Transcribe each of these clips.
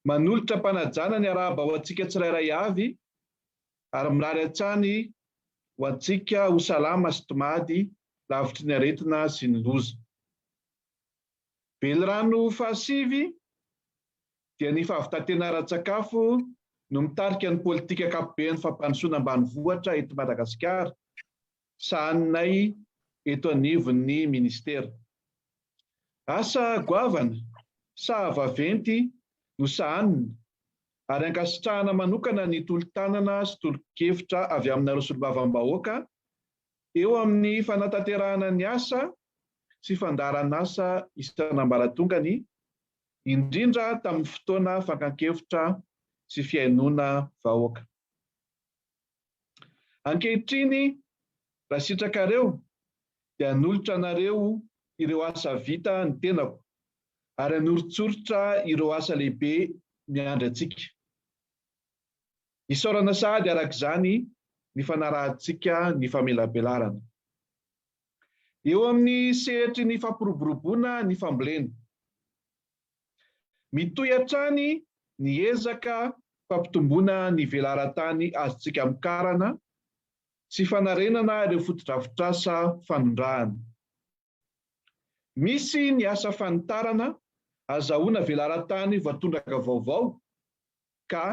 Manolotra am-panajana ny arahaba ho antsika tsirairay avy ary mirary hatrany ho antsika ho salama sy tomady lavitry ny aretina sy ny loza. Velirano fahasivy dia ny fahavitantena ara-tsakafo no mitarika ny politika ankapoben'ny fampandrosoana ambanivohitra eto Madagasikara. sahaninay eto anivon'ny Ministera. Asa goavana saha vaventy no sahanina ary ankasitrahana manokana ny tolo-tanana sy tolo-kevitra avy aminareo Solombavambahoaka eo amin'ny fanatanterahana ny asa sy fandaharan'asa isan'ambaratongany, indrindra tamin'ny fotoana fankan-kevitra sy fihainoana vahoaka. Ankehitriny, raha sitrakareo, dia hanolotra anareo ireo asa vita ny tenako, ary hanoritsoritra ireo asa lehibe miandry antsika. Isaorana sahady araka izany ny fanarahantsika ny famelabelarana. Eo amin'ny sehatry ny fampiroboroboana ny fambolena, Mitohy hatrany ny ezaka fampitomboana ny velaran-tany azontsika amokarana sy fanarenana ireo fotodrafitrasa fanondrahana. Misy ny asa fanitarana azahoana velaran-tany voatondraka vaovao ka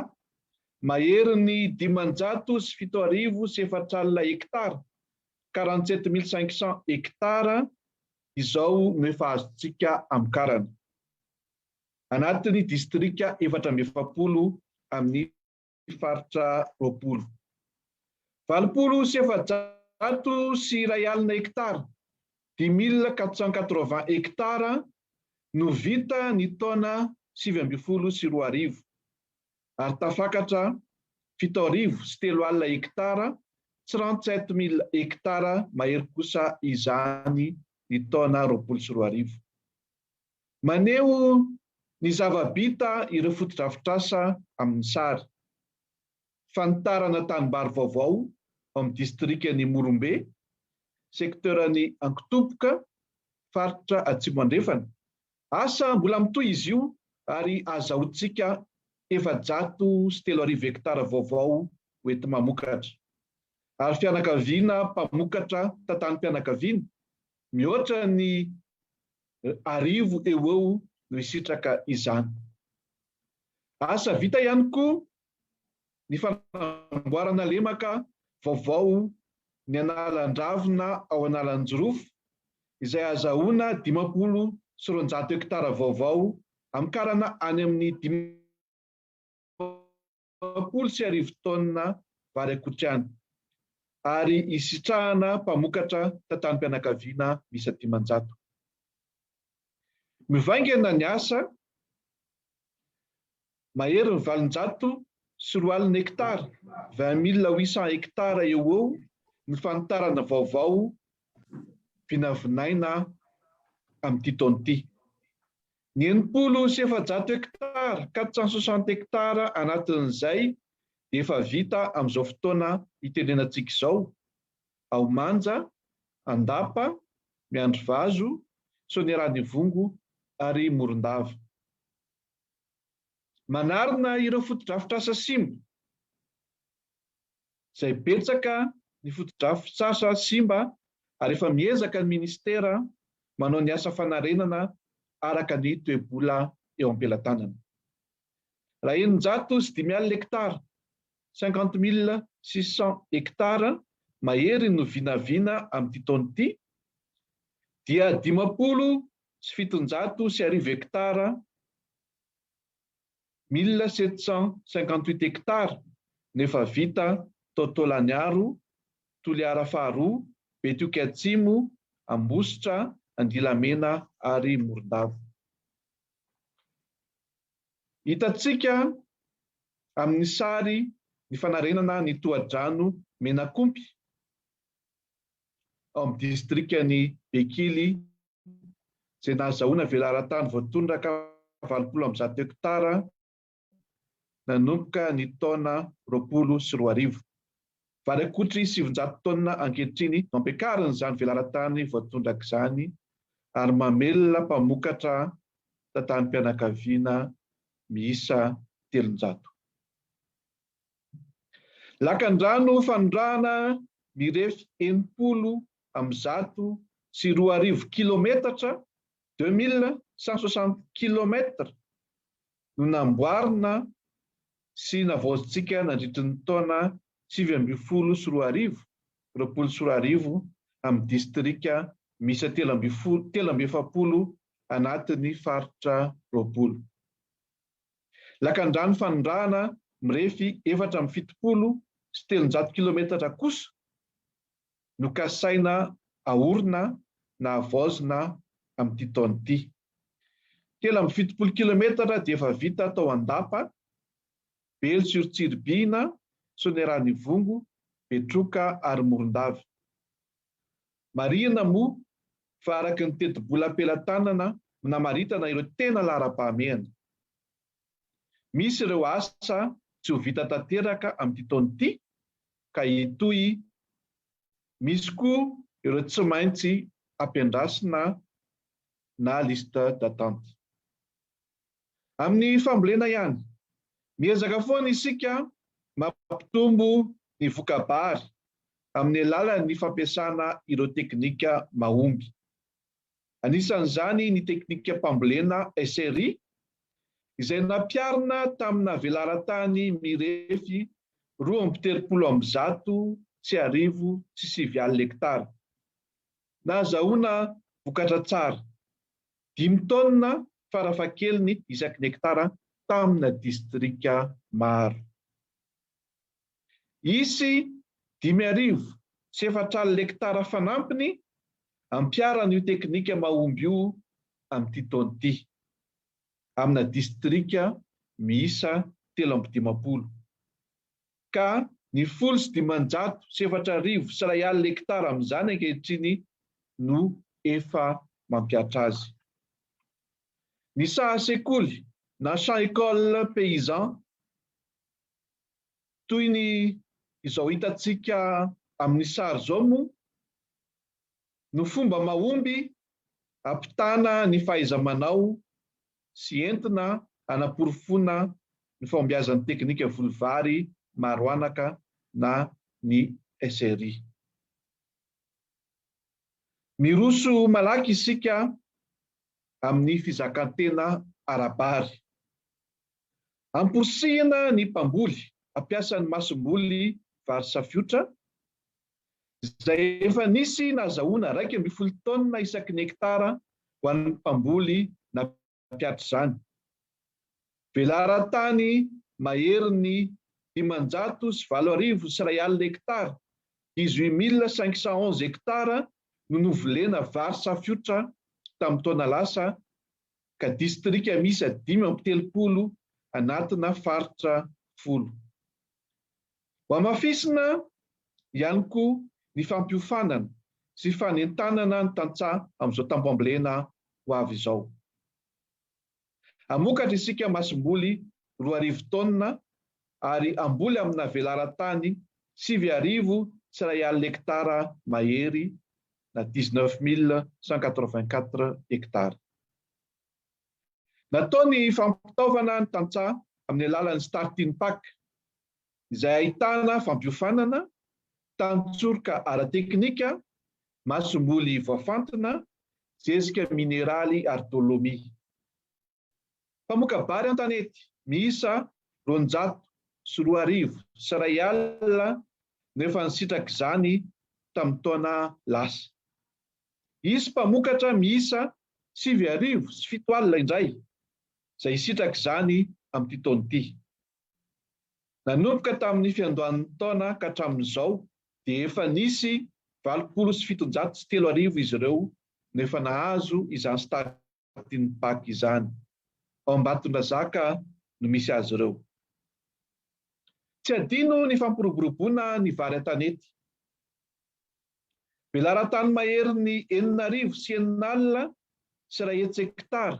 maherin'ny dimanjato sy fito arivo sy efatra alina hektara, quarante-sept mille cinq cents hectares, izao no efa azontsika amokarana. Anatin'ny distrika efatra amby efapolo amin'ny faritra roapolo. Valopolo sy efajato sy iray alina hekitara, dix mille quatre cent quatre-vingts hekitara, no vita ny taona sivy ambin'ny folo sy roa arivo. ary tafakatra fito arivo sy telo alina hektara, trente sept mille hektara, mahery kosa izany ny taona roapolo sy roa arivo. Maneho ny zava-bita ireo fotodrafitrasa amin'ny sary. Fanitarana tanimbary vaovao ao amin'ny distrikan'i Morombe, sekteran'i Ankotompoka, faritra Atsimo Andrefana, Asa mbola mitohy izy io ary azahoantsika efajato sy telo arivo hektara vaovao hoenti-mamokatra. Ary fianakaviana mpamokatra tantanim-pianakaviana mihoatra ny arivo eo ho eo no hisitraka izany. Asa vita ihany koa ny fanamboarana lemaka vaovao ny analan-dravina ao Analanjirofo izay hazahoana dimampolo sy roanjato hektara vaovao amin'ny karana any amin'ny dimampolo sy arivo taonina vary akotrihany ary hisitrahana mpamokatra tantanim-pianakaviana miisa dimanjato. Mivaingana ny asa Mahery ny valonjato sy roa alina hektara, vingt mille huit cents hectares, eo ho eo no fanitarana vaovao vinavinaina amin'ity taona ity. Ny enimpolo sy efajato hektara, quatre cent soixante hectares, anatin'izay dia efa vita amin'izao fotoana itenenantsika izao ao Manja, Andapa, Miandrivazo, Soanierana Ivongo ary Morondava. Manarina ireo fotodrafitrasa simba, izay betsaka ny fotodrafitrasa simba ary efa miezaka ny Minisitera manao ny asa fanarenana araka ny toe-bola eo am-pelatanana. Raha eninjato sy dimy alina hektara, cinquante mille six cents hectares, mahery no vinavina amin'ity taona ity, dia dimampolo sy fitonjato sy arivo hektara, mille sept cent cinquante-huit hectares, no efa vita tao Taolagnaro, Toliara faharoa, Betioky Atsimo, Ambositra, Andilamena ary Morondava. Hitantsika amin'ny sary ny fanarenana ny tohadrano Menakompy ao amin'ny distrikan'i Bekily. izay nahazahoana velaran-tany voatondraka valopolo amby zato hektara nanomboka ny taona roapolo sy roa arivo. Vary akotry sivinjato taonina ankehitriny no ampiakarin'izany velaran-tany voatondraka izany ary mamelona mpamokatra tantanim-pianakaviana miisa telonjato. Lakandrano fanondrahana mirefy enimpolo amby zato sy roa arivo kilometatra, deux mille cent soixante kilomètres, no namboarina sy navaozintsika nandritry ny taona sivy ambin'ny folo sy roa arivo, roapolo sy roa arivo, amin'ny distrika miisa telo ambin'ny folo, telo amby efapolo anatin'ny faritra roapolo. Lakandrano fanondrahana mirefy efatra amby fitopolo sy telonjato kilometatra kosa no kasaina aorina na havaozina amin'ity taona ity. Telo amby fitopolo kilometatra dia efa vita tao Andapa, Belo sur Tsiribihina, Soanierana Ivongo, Betroka ary Morondava. Marihina moa fa araka ny tetibola am-pelatanana minamaritana ireo tena laharam-pahamehana, misy ireo asa tsy ho vita tanteraka amin'ity taona ity ka hitohy, misy koa ireo tsy maintsy ampiandrasina na liste d'attente. Amin'ny fambolena ihany, miezaka foana isika mampitombo ny voka-bary amin'ny alalan'ny fampiasana ireo teknika mahomby. Anisan'izany ny teknikam-pambolena SRI, izay nampiharina tamina velaran-tany mirefy roa amby telopolo amby zato sy arivo sy sivy alina hektara. Nahazahoana vokatra tsara. Dimy taonina farafahakeliny isaky ny hektara tamina distrika maro. Hisy dimy arivo sy efatra alina hektara fanampiny ampiharana io teknika mahomby io amin'ity taona ity, amina distrika miisa telo amby dimampolo. ka ny folo sy dimanjato sy efatra arivo sy iray alina hektara amin'izany ankehitriny no efa mampiatra azy. Ny saha sekoly na champs écoles paysans toy ny izao hitantsika amin'ny sary izao moa no fomba mahomby hampitana ny fahaiza-manao sy entina hanaporofoana ny fahombiazan'ny teknika voly vary maro anaka na ny SRI. Miroso malaky isika amin'ny fizakan-tena ara-bary. Amporisihina ny mpamboly hampiasa ny masomboly vary safiotra izay efa nisy nahazahoana iraika ambin'ny folo taonina isaky ny hektara ho an'ny mpamboly nampihatra izany. Velaran-tany maherin'ny dimanjato sy valo arivo sy iray alina hektara, dix-huit mille cinq cent onze hectares, no novolena vary safiotra tamin'ny taona lasa ka distrika miisa dimy amby telopolo anatina faritra folo. Hohamafisina ihany koa ny fampiofanana sy fanentanana ny tantsaha amin'izao tamboambolena ho avy izao. Hamokatra isika masomboly roa arivo taonina ary hamboly amina velaran-tany sivy arivo sy iray alina hektara mahery na dix-neuf mille cent quatre-vingt-quatre hectares. Natao ny fampitaovana ny tantsaha amin'ny alalan'ny Starting Pack izay ahitana fampiofanana, tantsoroka ara-teknika, masomboly voafantina, zezika mineraly ary dolomy. Mpamoka-bary an-tanety miisa roanjato sy roa arivo sy iray alina no efa nisitraka izany tamin'ny taona lasa. Hisy mpamokatra miisa sivy arivo sy fito alina indray izay hisitraka izany amin'ity taona ity. Nanomboka tamin'ny fiandohan'ny taona ka hatramin'izao dia efa nisy valopolo sy fitonjato sy telo arivo izy ireo no efa nahazo izany start ny Pac izany. Ao Ambatondrazaka no misy azy ireo. Tsy adino ny fampiroboroboana ny vary an-tanety. Velaran-tany maherin'ny enina arivo sy enina alina sy iray hetsy hektara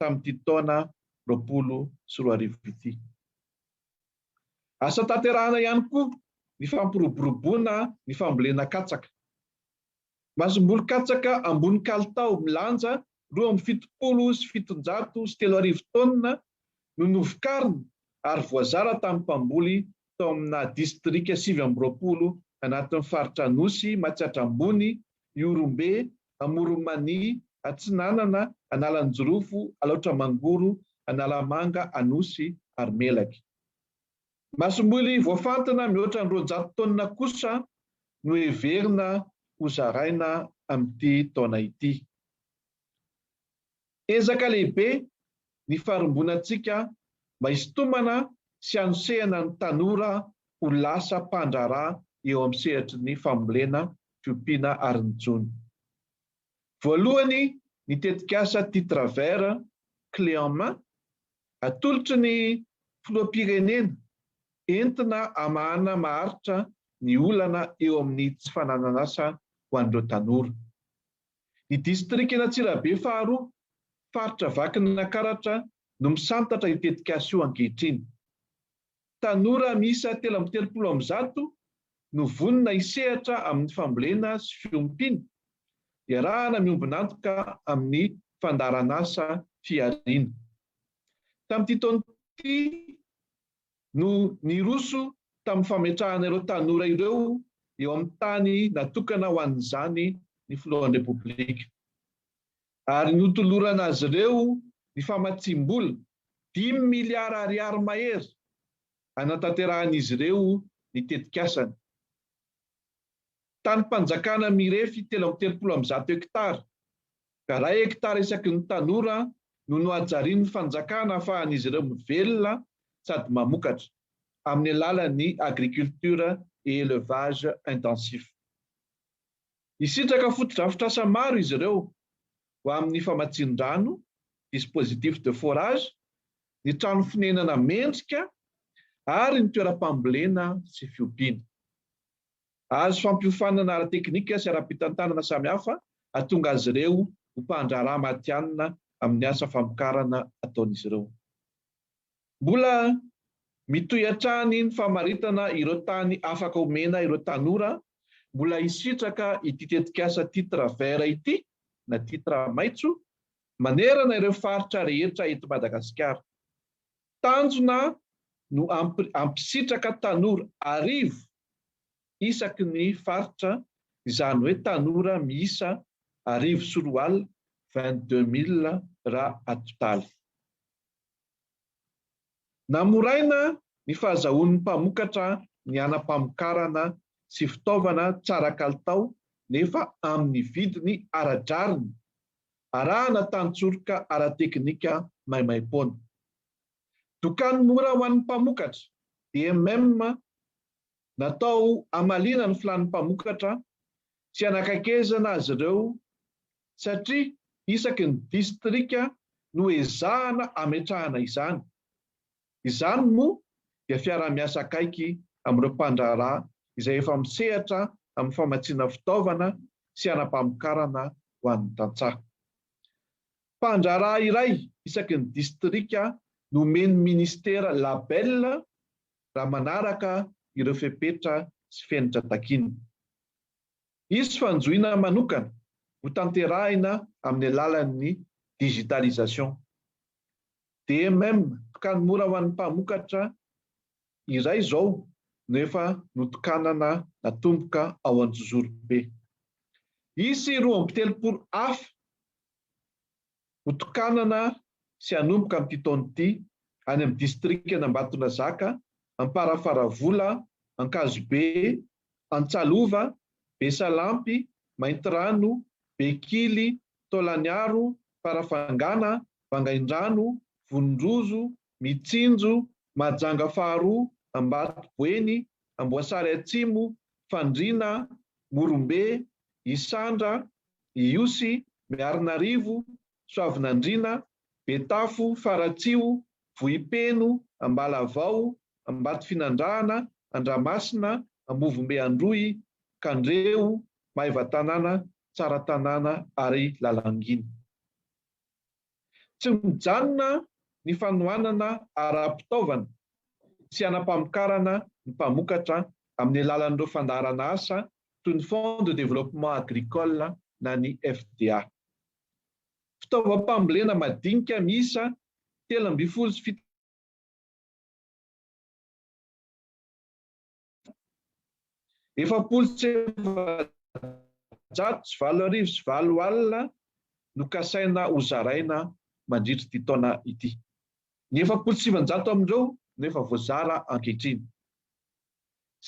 tamin'ity taona roapolo sy roa arivo ity. Asa tanterahana ihany koa ny fampiroboroboana ny fambolena katsaka. Masomboly katsaka ambony kalitao milanja roa amby fitopolo sy fitonjato sy telo arivo taonina no novokarina ary voazara tamin'ny mpamboly tao amina distrika sivy amby roapolo anatin'ny faritra Anosy, Matsiatra Ambony, Ihorombe, Amoron'i Mania, Atsinanana, Analanjirofo, Alaotra Mangoro, Analamanga, Anosy ary Melaky. Masomboly voafantina mihoatra ny roanjato taonina kosa no heverina ho zaraina amin'ity taona ity. Ezaka lehibe ny faharimbonan-tsika mba hisintomana sy hanosehana ny tanora ho lasa mpandraharaha eo amin'ny sehatry ny fambolena, fiompiana ary ny jono. Voalohany ny tetikasa Titre Vert clé en main atolotry ny Filoham-pirenena entina hamahana maharitra ny olana eo amin'ny tsy fananan'asa ho an'ireo tanora. Ny distrikan'Antsirabe faharoa, faritra Vakinankaratra no misantatra io tetikasa io ankehitriny. Tanora miisa telo amby telopolo amby zato no vonona hisehatra amin'ny fambolena sy fiompiana, iarahana miombon'antoka amin'ny fandaharanasa Fihariana. Tamin'ity taona ity no niroso tamin'ny fametrahana ireo tanora ireo eo amin'ny tany natokana ho an'izany ny Filohan'ny Repoblika, ary notolorana azy ireo ny famatsiam-bola dimy miliara ariary mahery hanatanterahan'izy ireo ny tetikasany. Tanim-panjakana mirefy telo amby telopolo amin'ny zato hektara Iray hektara isaky ny tanora no nohajarian'ny fanjakana ahafahan'izy ireo mivelona sady mamokatra, amin'ny alalan'ny agriculture et élevage intensif. Hisitraka fotodrafitrasa maro izy ireo ho amin'ny famatsian-drano, dispositif de forage, ny trano fonenana mendrika ary ny toeram-pambolena sy fiompiana. Hahazo fampiofanana ara-teknika sy ara-pitantanana samihafa hahatonga azy ireo ho mpandraharaha matihanina amin'ny asa famokarana ataon'izy ireo. Mbola mitohy hatrany ny famaritana ireo tany afaka omena ireo tanora mbola hisitraka ity tetikasa Titre Vert ity na Titre Maitso manerana ireo faritra rehetra eto Madagasikara. Tanjona no hampisitraka tanora arivo isaky ny faritra, izany hoe tanora miisa arivo sy roa alina, vingt deux mille raha atotaly. Namoraina ny fahazahoan'ny mpamokatra ny hanam-pamokarana sy fitaovana tsara kalitao nefa amin'ny vidiny ara-drariny Arahana tantsoroka ara-teknika maimaim-poana. Dokany mora ho an'ny mpamokatra, DMM, Natao hamaliana ny filàn'ny mpamokatra sy hanakaikezana azy ireo satria isaky ny distrika no ezahana hametrahana izany. Izany moa dia fiaraha-miasa akaiky amin'ireo mpandraharaha izay efa misehatra amin'ny famatsiana fitaovana sy hanam-pamokarana ho an'ny tantsaha. Mpandraharaha iray isaky ny distrika no omen'ny minisitera label raha manaraka ireo fepetra sy fenitra takiany. Hisy fanjohiana manokana hotanterahina amin'ny alalan'ny digitalisation. DMM, Tokany mora ho an'ny mpamokatra iray izao no efa notokanana natomboka ao Anjozorobe. Hisy roa amby telopolo hafa hotokanana sy hanomboka amin'ity taona ity any amin'ny distrikan'Ambatonazaka, Amparafaravola, Ankazobe, Antsalova, Besalampy, Maintirano, Bekily, Taolaniaro, Farafangana, Vangaindrano, Vononrozo, Mitsinjo, Mahajanga faharoa, Ambatoboeny, Amboasary Atsimo, Fandriana, Morombe, Isandra, Ihosy, Miarinarivo, Soavinandriana, Betafo, Faratsiho, Vohipeno, Ambalavao, Ambatofinandrahana, Andramasina, Ambovombe Androy, Kandreho, Maevatanàna, Tsaratanàna ary Lalangina. Tsy mijanona ny fanohanana ara-pitaovana sy hanam-pamokarana ny mpamokatra amin'ny alalan'ireo fandaharana asa toy ny Fonds de développement agricole na ny FDA. Fitaovam-pambolena madinika miisa telo ambin'ny folo sy fito efapolo sy efajato sy valo arivo sy valo alina no kasaina ho zaraina mandritra ity taona ity. Ny efapolo sy sivinjato amin'ireo no efa voazara ankehitriny.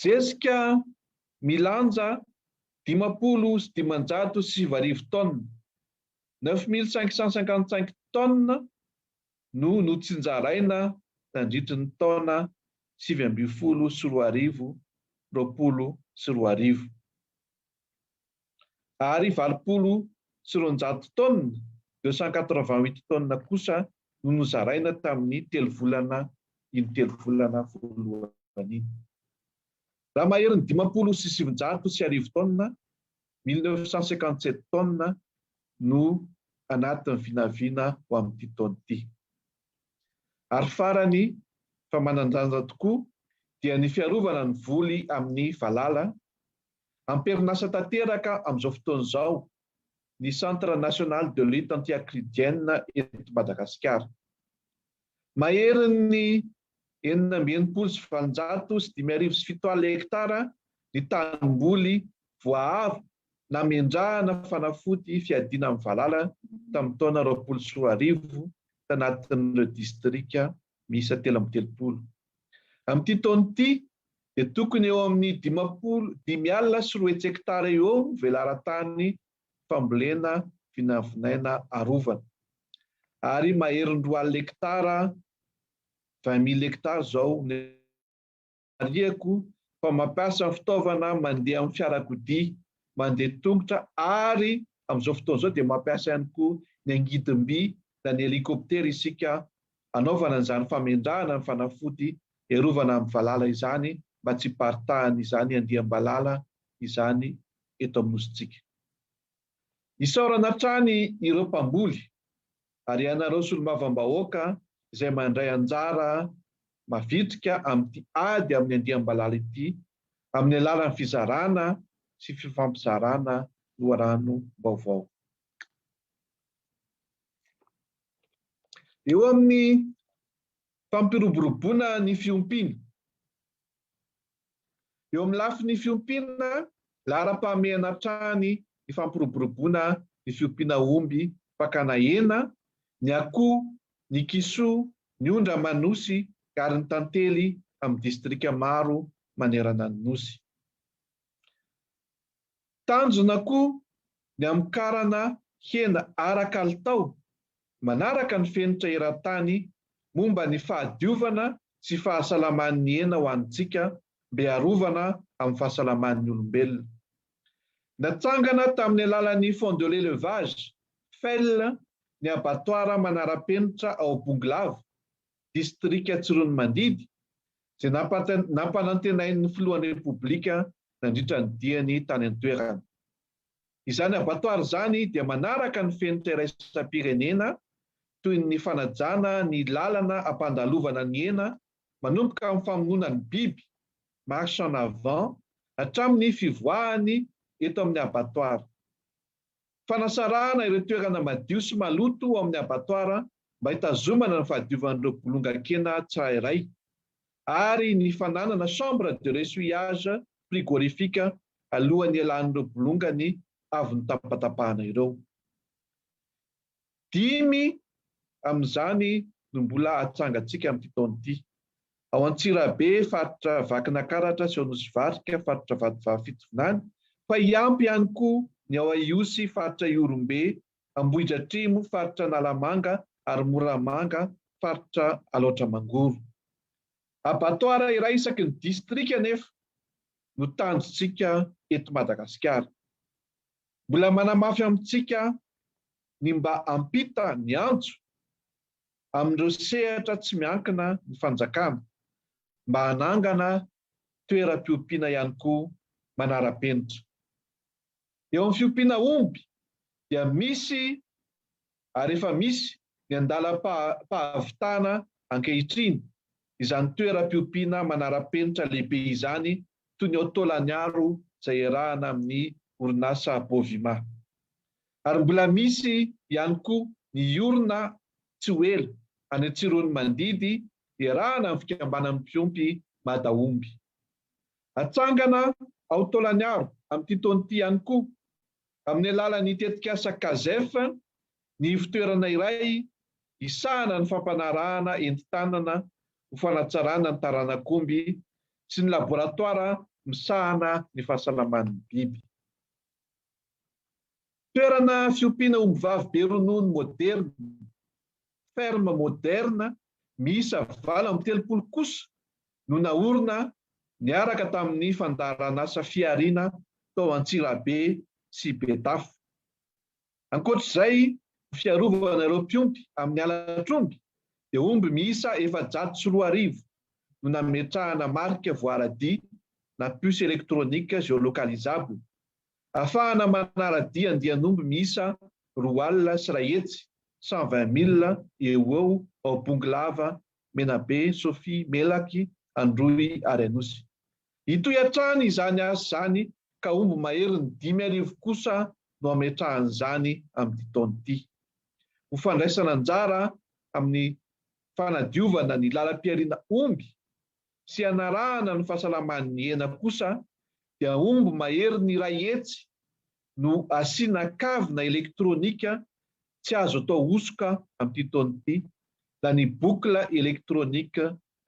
Zezika milanja dimampolo sy dimanjato sy sivy arivo tonnes, neuf mille cinq cent cinquante cinq tonnes, no notsinjaraina nandritry ny taona sivy ambin'ny folo sy roa arivo, roapolo sy roa arivo. ary valopolo sy roanjato tonnes, deux cent quatre-vingt-huit tonnes, kosa no nozaraina tamin'ny telo volana iny telo volana voalohany iny. Raha maherin'ny dimampolo sy sivinjato sy arivo tonnes, mille neuf cent cinquante-sept tonnes, no anatin'ny vinavina ho amin'ity taona ity. Ary farany fa manan-danja tokoa dia ny fiarovana ny voly amin'ny valala Am-perinasa tanteraka amin'izao fotoana izao ny Centre National de Lutte Anti-Acridienne eto Madagasikara. Maherin'ny enina amby enimpolo sy valonjato sy dimy arivo sy fito alina hektara ny tanimboly voaaro namendrahana fanafody fiadiana amin'ny valala tamin'ny taona roapolo sy roa arivo tanatin'ireo distrika miisa telo amby telopolo. Amin'ity taona ity dia tokony eo amin'ny dimampolo dimy alina sy roa hetsektara eo ho eo ny velaran-tany fambolena vinavinaina arovana ary maherin'ny roa alina hektara, vingt mille hectares, izao ny mariako fa mampiasa ny fitaovana mandeha amin'ny fiarakodia mandeha tongotra ary amin'izao fotoana izao dia mampiasa ihany koa ny angidim-by na ny helikoptera isika Hanaovana an'izany famendrahana ny fanafody hiarovana amin'ny valala izany mba tsy hiparitahan' izany andiam-balala izany eto amin'ny Nosintsika. Isaorana hatrany ireo mpamboly ary ianareo solombavambahoaka izay mandray anjara mavitrika amin'ity ady amin'ny andiam-balala ity amin'ny alalan'ny fizarana sy fifampizarana loharanom-baovao. Eo amin'ny fampiroboroboana ny fiompiana. Eo amin'ny lafiny fiompiana, laharam-pahamehana hatrany ny fampiroboroboana ny fiompiana omby fakana hena, ny akoho, ny kisoa, ny ondra aman'osy ary ny tantely amin'ny distrika maro manerana ny Nosy. Tanjona koa ny hamokarana hena ara-kalitao manaraka ny fenitra eran-tany momba ny fahadiovana sy fahasalaman'ny hena ho antsika mbe arovana amin'ny fahasalaman'ny olombelona. Natsangana tamin'ny alalan'ny Fonds de l'Elevage, fel, ny abatoara manara-penitra ao Bongolava, distrika Tsiroanomandidy, izay nampanantenain'ny filohan'ny Repoblika nandritra ny diany tany an-toerana. Izany abattoir izany dia manaraka ny fenitra iraisam-pirenena toy ny fanajana ny lalana hampandalovana ny hena manomboka amin'ny famonoana ny biby, marche en avant, hatramin'ny fivoahany eto amin'ny abattoir. fanasarahana ireo toerana madio sy maloto ao amin'ny abattoir mba hitazomana ny fahadiovan'ireo bolongan-kena tsirairay ary ny fananana chambre de ressuyage frigorifique alohan'ny hialan'ireo bolongany avy notapatapahana ireo. Dimy amin'izany no mbola atsangantsika amin'ity taona ity. Ao Antsirabe, faritra Vakinakaratra sy ao Anosivarika, faritra Vatovavy Fitovinany, fa hiampy ihany koa ny ao Ihosy, faritra Ihorombe, Ambohidratrimo, faritra Analamanga, ary Moramanga, faritra Alaotra Mangoro. Abattoir iray isaky ny distrika anefa no tanjontsika eto Madagasikara. Mbola manamafy amintsika ny mba hampita ny antso amin'ireo sehatra tsy miankina ny fanjakana mba hanangana toeram-piompiana ihany koa manara-penitra. Eo amin'ny fiompiana omby dia misy ary efa misy ny andalam-pahavitana ankehitriny izany toeram-piompiana manara-penitra lehibe izany toy ny ao Tôlaniaro izay iarahana amin'ny orinasa Bovima. Ary mbola misy ihany koa ny hiorina tsy ho ela any Antsiroanomandidy hiarahana amin'ny fikambanan'ny mpiompy Madaomby. Hatsangana ao Taolagnaro amin'ity taona ity ihany koa, amin'ny alalan'ny tetikasa Casef, ny ivon-toerana iray hisahana ny fampanarahana entin-tanana ho fanatsarana ny taranak'omby sy ny laboratoara misahana ny fahasalaman'ny biby. Toerana fiompiana ombivavy be ronono moderina, ferme moderne, miisa valo amby telopolo kosa no naorina niaraka tamin'ny fandaharanasa Fihariana tao Antsirabe sy Betafo. Ankoatra izay, ho fiarovana ireo mpiompy amin'ny halatr'omby dia omby miisa efajato sy roa arivo no nametrahana marika voaradia na puce électronique géolocalisable Afahana manara-dia andian'omby miisa roa alina sy iray hetsy, cent vingt mille, eo ho eo ao Bongolava, Menabe, Sofia, Melaky, Androy ary Anosy. Hitohy hatrany izany asa izany ka omby maherin'ny dimy arivo kosa no hametrahan'izany amin'ity taona ity. Ho fandraisana anjara amin'ny fanadiovana ny lalam-pihariana omby sy hanarahana ny fahasalamany ny hena kosa dia omby maherin'ny iray hetsy no asiana kavina elektronika tsy azo atao hosoka amin'ity taona ity na ny boucle électronique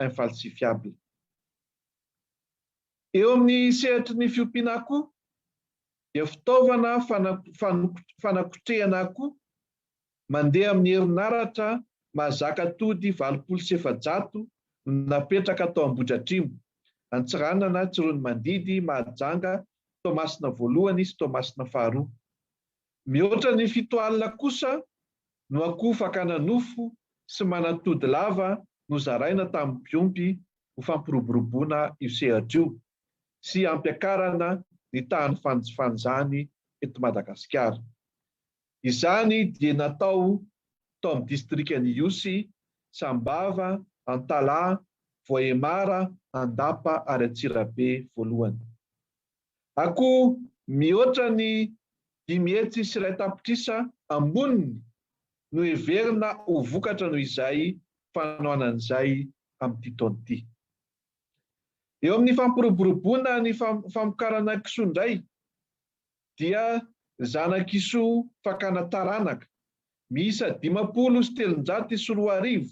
infalsifiable. Eo amin'ny sehatry ny fiompiana akoho dia fitaovana fanakotrehana akoho mandeha amin'ny herinaratra mahazaka tody valopolo sy efajato no napetraka tao Ambohidratrimo, Antsiranana, Tsiroanomandidy, Mahajanga, Toamasina voalohany sy Toamasina faharoa. Mihoatra ny fito alina kosa no akoho fakana nofo sy manatody lava nozaraina tamin'ny mpiompy ho fampiroboroboana io sehatra io sy hampiakarana ny tahan'ny fanjifany izany eto Madagasikara. Izany dia natao tao amin'ny distrikan'i Ihosy, Sambava, Antalaha, Voahemara, Andapa ary Antsirabe voalohany. Akoho mihoatra ny dimy hetsy sy iray tapitrisa amboniny no heverina ho vokatra noho izay fanohanana izay amin'ity taona ity. Eo amin'ny fampiroboroboana ny famokarana kisoa indray dia zana-kisoa fakana taranaka, miisa dimampolo sy telonjato sy roa arivo,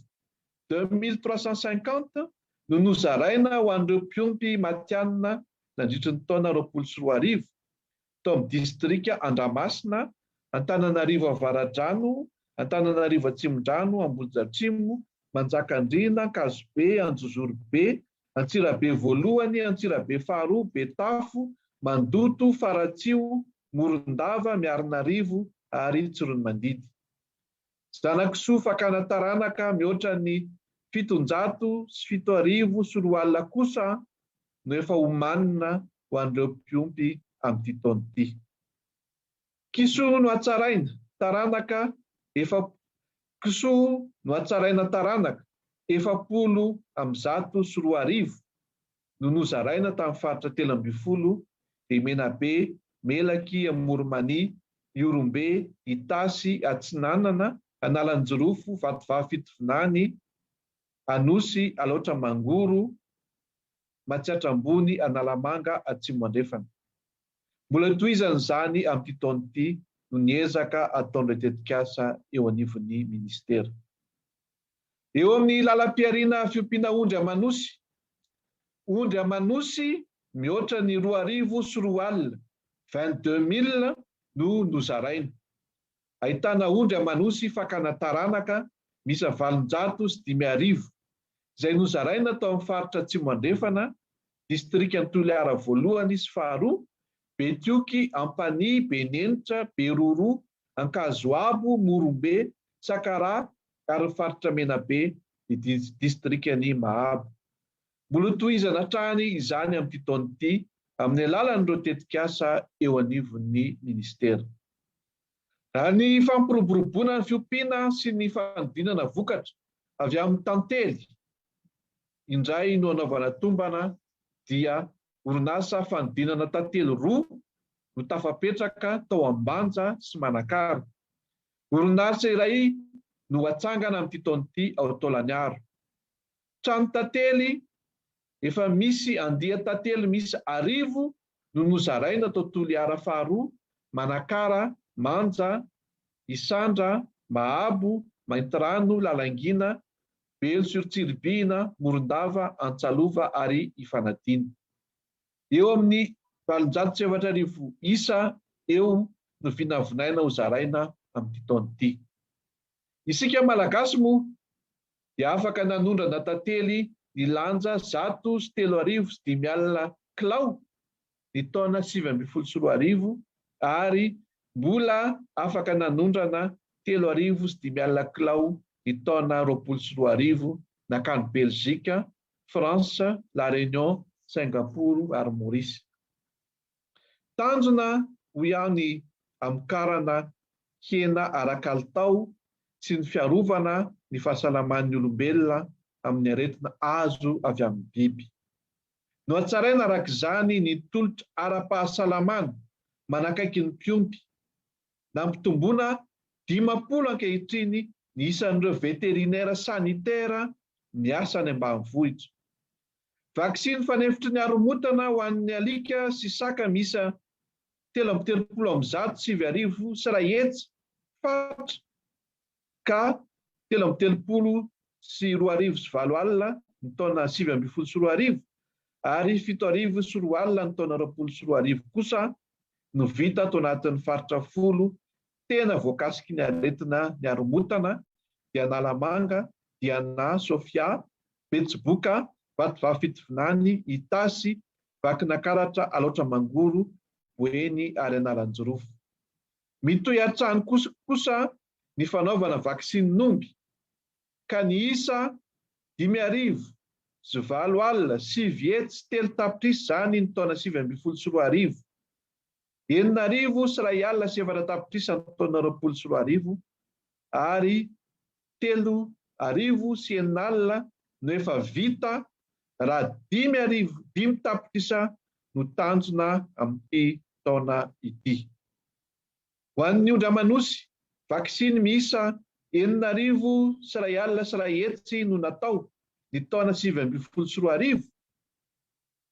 deux mille trois cent cinquante, no nozaraina ho an'ireo mpiompy matihanina nandritry ny taona roapolo sy roa arivo, tao amin'ny distrika Andramasina, Antananarivo Avaradrano, Antananarivo Atsimondrano, Ambodiatrimo, Manjakandriana, Ankazobe, Anjozorobe, Antsirabe voalohany, Antsirabe faharoa, Betafo, Mandoto, Faratsiho, Morondava, Miarinarivo ary Tsiroanomandidy. Zanakisoa fakana taranaka mihoatra ny fitonjato sy fito arivo sy roa alina kosa no efa omanina ho an'ireo mpiompy amin'ity taona ity. Kisoa no hatsaraina, taranaka efa Kisoa no hatsaraina taranaka efapolo amby zato sy roa arivo no nozaraina tamin'ny faritra telo ambin'ny folo dia Menabe, Melaky, Amoronmania, Ihorombe, Itasy, Atsinanana, Analanjirofo, Vatovavy Fitovinany, Anosy, Alaotra Mangoro, Matsiatra Ambony, Analamanga Atsimo Andrefana. Mbola hitohizana izany amin'ity taona ity noho ny ezaka ataon'ireo tetikasa eo anivon'ny minisitera. Eo amin'ny lalam-pihariana fiompiana ondry aman'osy, ondry aman'osy mihoatra ny roa arivo sy roa alina, vingt-deux mille, no nozaraina. Ahitana ondry aman'osy fakana taranaka miisa valonjato sy dimy arivo, izay nozaraina tao amin'ny faritra Atsimo Andrefana, distrikan'i Toliara voalohany sy faharoa, Betioky, Ampanihy, Benenitra, Beroroha, Ankazoabo, Morombe, Sakaraha ary ny faritra Menabe, ny distrikan'i Mahabo. Mbola ho tohizana hatrany izany amin'ity taona ity amin'ny alalan'ireo tetikasa eo anivon'ny Minisitera. Raha ny fampiroboroboana ny fiompiana sy ny fanodinana vokatra avy amin'ny tantely indray no anaovana tombana dia orinasa fanodinana tantely roa no tafapetraka tao Ambanja sy Manakara. Orinasa iray no ho atsangana amin'ity taona ity ao Taolagnaro. Trano tantely, Efa misy andian-tantely miisa arivo no nozaraina tao Toliara faharoa, Manakara, Manja, Isandra, Mahabo, Maintirano, Lalangina, Belo sur Tsiribihina, Morondava, Antsalova ary Ifanadiana. Eo amin'ny valonjato sy efatra arivo isa eo no vinavinaina ho zaraina amin'ity taona ity. Isika Malagasy moa dia afaka nanondrana tantely nilanja zato sy telo arivo sy dimy alina kilao ny taona sivy ambin'ny folo sy roa arivo ary mbola afaka nanondrana telo arivo sy dimy alina kilao ny taona roapolo sy roa arivo nankany Belzika, France, La Réunion, Singapour ary Maurice. Tanjona hoy aho ny hamokarana hena ara-kalitao sy ny fiarovana ny fahasalaman'ny olombelona amin'ny aretina azo avy amin'ny biby. Nohatsaraina araka izany ny tolotra ara-pahasalamana manakaiky ny mpiompy. Nampitomboina dimampolo ankehitriny ny isan'ireo veterinera sanitera miasa any ambanivohitra. Vaksiny fanefitry ny haromotana ho an'ny alika sy saka miisa telo amby telopolo amby zato sivy arivo sy iray hetsy fat ka telo amby telopolo sy roa arivo sy valo alina ny taona sivy ambin'ny folo sy roa arivo ary fito arivo sy roa alina ny taona roapolo sy roa arivo kosa no vita ato anatin'ny faritra folo tena voakasiky ny aretina ny haromotana dia Analamanga, Diana, Sofia, Betsiboka, Vatovavy Fitovinany, Itasy, Vakinankaratra, Alaotra Mangoro, Boeny ary Analanjirofo. Mitohy hatrany kosa ny fanaovana vaksinin'omby ka ny isa dimy arivo sy valo alina sivy hetsy telo tapitrisa izany ny taona sivy ambin'ny folo sy roa arivo. Enina arivo sy iray alina sy efatra tapitrisa ny taona roapolo sy roa arivo ary telo arivo sy enina alina no efa vita raha dimy arivo, dimy tapitrisa no tanjona amin'ity taona ity. Ho an'ny ondry aman'osy, vaksiny miisa enina arivo sy iray alina sy iray hetsy no natao ny taona sivy ambin'ny folo sy roa arivo,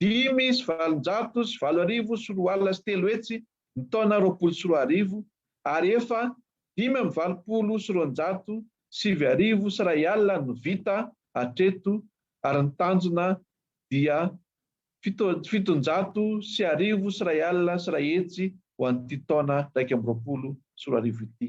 Dimy sy valonjato sy valo arivo sy roa alina sy telo hetsy ny taona roapolo sy roa arivo ary efa dimy amby valopolo sy roanjato sivy arivo sy iray alina no vita hatreto ary ny tanjona dia fito fitonjato sy arivo sy iray alina sy iray hetsy ho an'ity taona iraika amby roapolo sy roa arivo ity.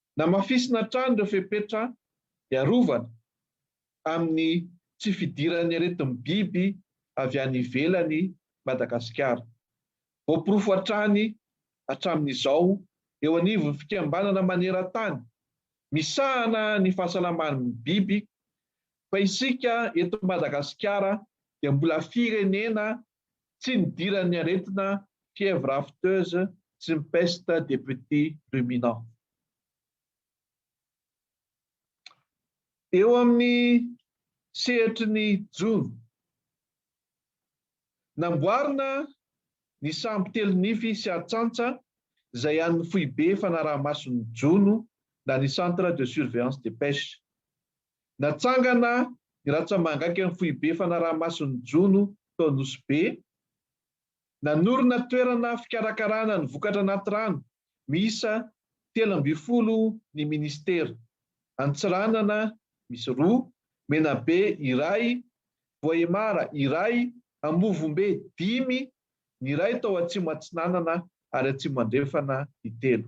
Namafisina hatrany ireo fepetra hiarovana amin'ny tsy fidiran'ny aretin'ny biby avy any ivelany i Madagasikara. Voaporofo hatrany hatramin'izao eo anivon'ny fikambanana maneran-tany misahana ny fahasalaman'ny biby fa isika eto Madagasikara dia mbola firenena tsy nidiran'ny aretina fièvre afteuse sy ny peste des petits ruminants. Eo amin'ny sehatry ny jono, namboarina ny sambo telo nify sy atsantsa izay an'ny foibe fanaraha-mason'ny jono na ny Centre de surveillance des pêches. Natsangana ny ratsamangakan'ny foibe fanaraha-mason'ny jono tao Nosy Be. Nanorina toerana fikarakarana ny vokatra anaty rano miisa telo ambin'ny folo ny minisitera. Antsiranana misy roa, Menabe iray, Voahemara iray, Ambovombe dimy, ny iray tao Atsimo Atsinanana ary Atsimo Andrefana ny telo.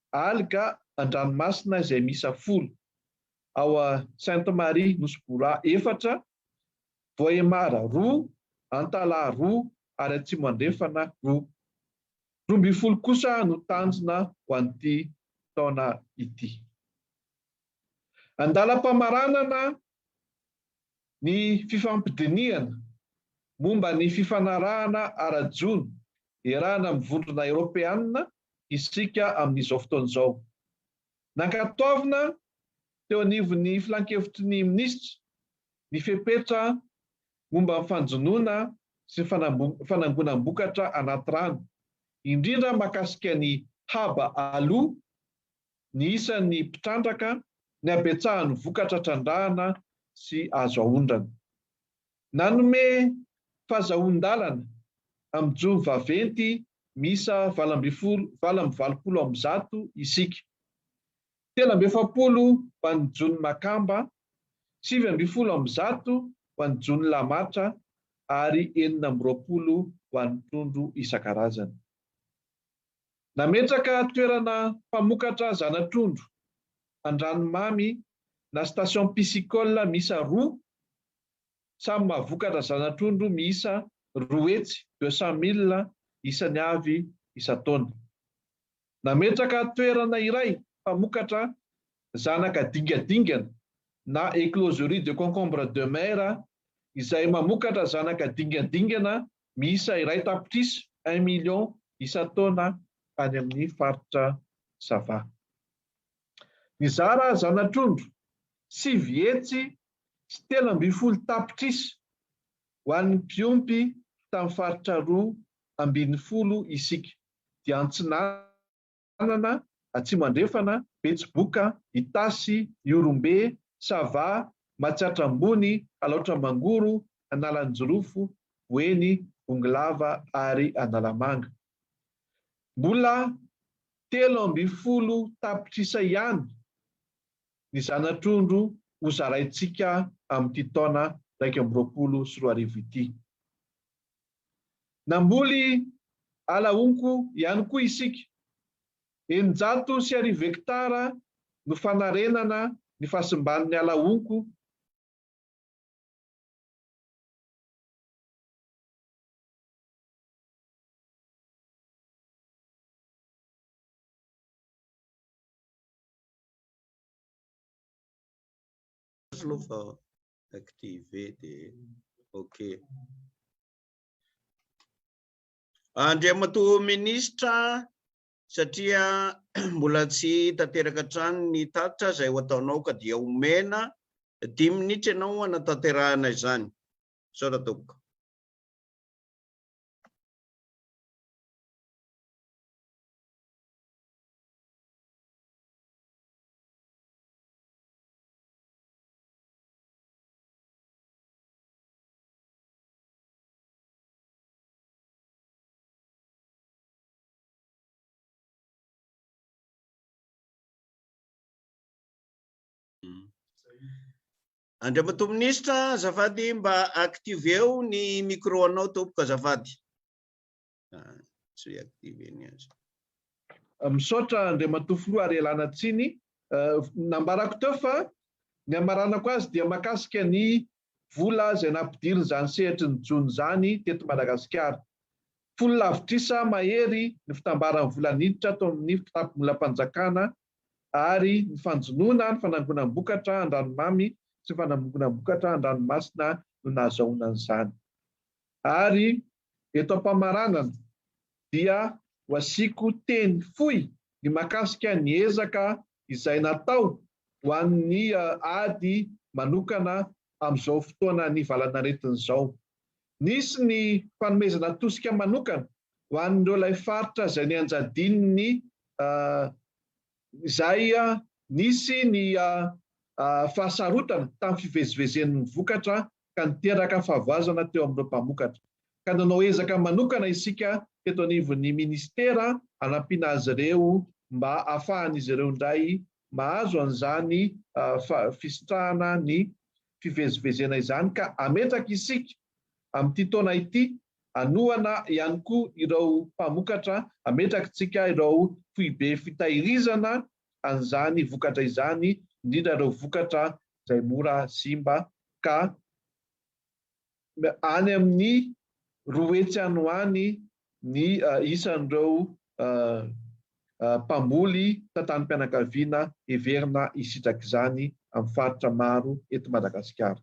Alga an-dranomasina izay miisa folo, ao a Sainte Marie Nosy Bora efatra, Vohemar roa, Antalaha roa ary Atsimo Andrefana roa. Roa ambin'ny folo kosa no tanjona ho an'ity taona ity. Andalam-pamaranana ny fifampidinihana momba ny fifanarahana ara-jono iarahana amin'ny Vondrona Eoropeana isika amin'izao fotoana izao. Nankatoavina teo anivon'ny Filan-kevitry ny Minisitra ny fepetra momba ny fanjonoana sy ny fanangonam-bokatra anaty rano, indrindra mahakasika ny haba aloa, ny isan'ny mpitrandraka, ny habetsahan'ny vokatra trandrahana sy azo aondrana. Nanome fahazahoan-dalana amin'ny jono vaventy miisa valo ambin'ny folo valo amby valopolo amby zato isika. Telo amby efapolo ho an'ny jono Makamba, sivy ambin'ny folo amby zato ho an'ny jono Lamatra ary enina amby roapolo ho an'ny trondro isan-karazany. Nametraka toerana mpamokatra zana-trondro, Andranomamy na station piscicole miisa roa Samy mahavokatra zana-trondro miisa roa hetsy, deux cent mille, isany avy isan-taona. Nametraka toerana iray mpamokatra zanaka dingadingana na écloserie de concombre de mer izay mamokatra zanaka dingadingana miisa iray tapitrisa, un million, isan-taona any amin'ny faritra Sava. Nizara zana-trondro sivy hetsy sy telo ambin'ny folo tapitrisa ho an'ny mpiompy tamin'ny faritra roa ambin'ny folo isika, dia Antsinanana, Atsimo Andrefana, Betsiboka, Itasy, Ihorombe, Sava, Matsiatra Ambony, Alaotra Mangoro, Analanjirofo, Boeny, Bongolava ary Analamanga. Mbola telo ambin'ny folo tapitrisa ihany ny zana-trondro ho zaraintsika amin'ity taona iraika amby roapolo sy roa arivo ity. Namboly ala honko ihany koa isika. Eninjato sy arivo hektara no fanarenana ny fahasimban'ny ala honko. Aloha fa activé dia ok. Andriamatoa Minisitra, satria mbola tsy tanteraka hatrany ny tatitra izay ho ataonao ka dia omena dimy minitra ianao hanatanterahana izany. Misaotra Tompoko. Andriamatoa Minisitra, azafady mba activeo ny micro-anao tompoko azafady. Misaotra Andriamatoa Filoha ary ialana tsiny. Nambarako teo fa ny hamaranako azy dia mahakasika ny vola izay nampidirin'izany sehatry ny jono izany teto Madagasikara. Folo lavitrisa mahery ny fitambaran'ny vola niditra tao amin'ny kitapomolam-panjakana ary ny fanjonoana ny fanangonam-bokatra an-dranomamy sy ny fanangonam-bokatra an-dranomasina no nahazahoana an'izany. Ary Eto am-pamaranana dia ho asiako teny fohy ny mahakasika ny ezaka izay natao ho an'ny ady manokana amin'izao fotoana nivalan'aretina izao. Nisy ny fanomezana tosika manokana ho an'ireo ilay faritra izay nianjadian'ny izay nisy ny fahasarotana tamin'ny fivezivezen'ny vokatra ka niteraka fahavoazana teo amin'ireo mpamokatra, ka nanao ezaka manokana isika teto anivon'ny Ministera hanampiana azy ireo mba hahafahan'izy ireo indray mahazo an'izany fisitrahana ny fivezivezena izany ka ametraka isika amin'ity taona ity hanohana ihany koa ireo mpamokatra, ametrakitsika ireo foibe fitahirizana an'izany vokatra izany indrindra ireo vokatra izay mora simba ka. Any amin'ny roa hetsy any ho any ny isan'ireo mpamboly tantanim-pianakaviana heverina hisitraka izany amin'ny faritra maro eto Madagasikara.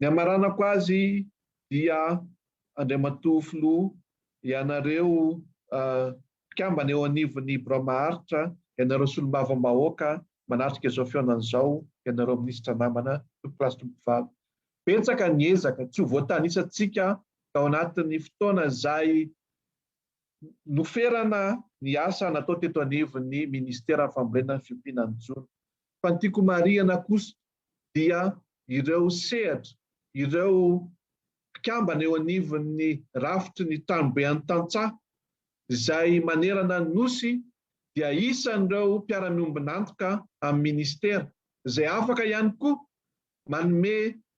Ny hamaranako azy dia Andriamatoa Filoha, ianareo mpikambana eo anivon'ny Birao Maharitra, ianareo Solombavambahoaka manatrika izao fihaonana izao, ianareo Minisitra namana, Tompokolahy sy Tompokovavy, Betsaka ny ezaka tsy ho voatanisantsika tao anatin'ny fotoana izay noferana ny asa natao teto anivon'ny Ministeran'ny Fambolena ny fiompiana ny jono. Fa ny tiako homarihana kosa dia ireo sehatra, ireo mpikambana eo anivon'ny rafitry ny Tranobe an'ny Tantsaha izay manerana ny Nosy dia isan'ireo mpiara-miombon'antoka amin'ny Ministera izay afaka ihany koa manome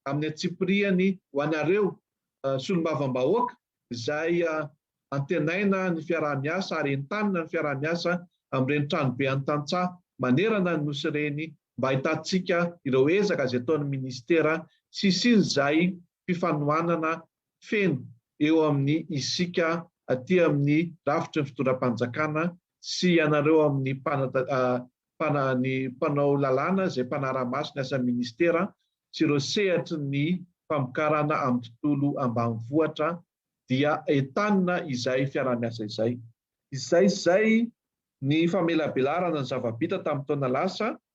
amin'ny antsipiriany ho anareo solombavambahoaka izay antenaina ny fiaraha-miasa ary entanina ny fiaraha-miasa amin'ireny tranobe an'ny tantsaha manerana ny Nosy ireny mba ahitantsika ireo ezaka izay ataon'ny Ministera sy hisian'izay fifanohanana feno eo amin'ny isika aty amin'ny rafitry ny fitondram-panjakana sy ianareo amin'ny mpana ny mpanao lalàna izay mpanara-maso ny asan'ny Ministera sy ireo sehatry ny famokarana amin'ny tontolo ambanivohitra dia entanina izay fiaraha-miasa izay. Izay izay ny famelabelarana ny zava-bita tamin'ny taona lasa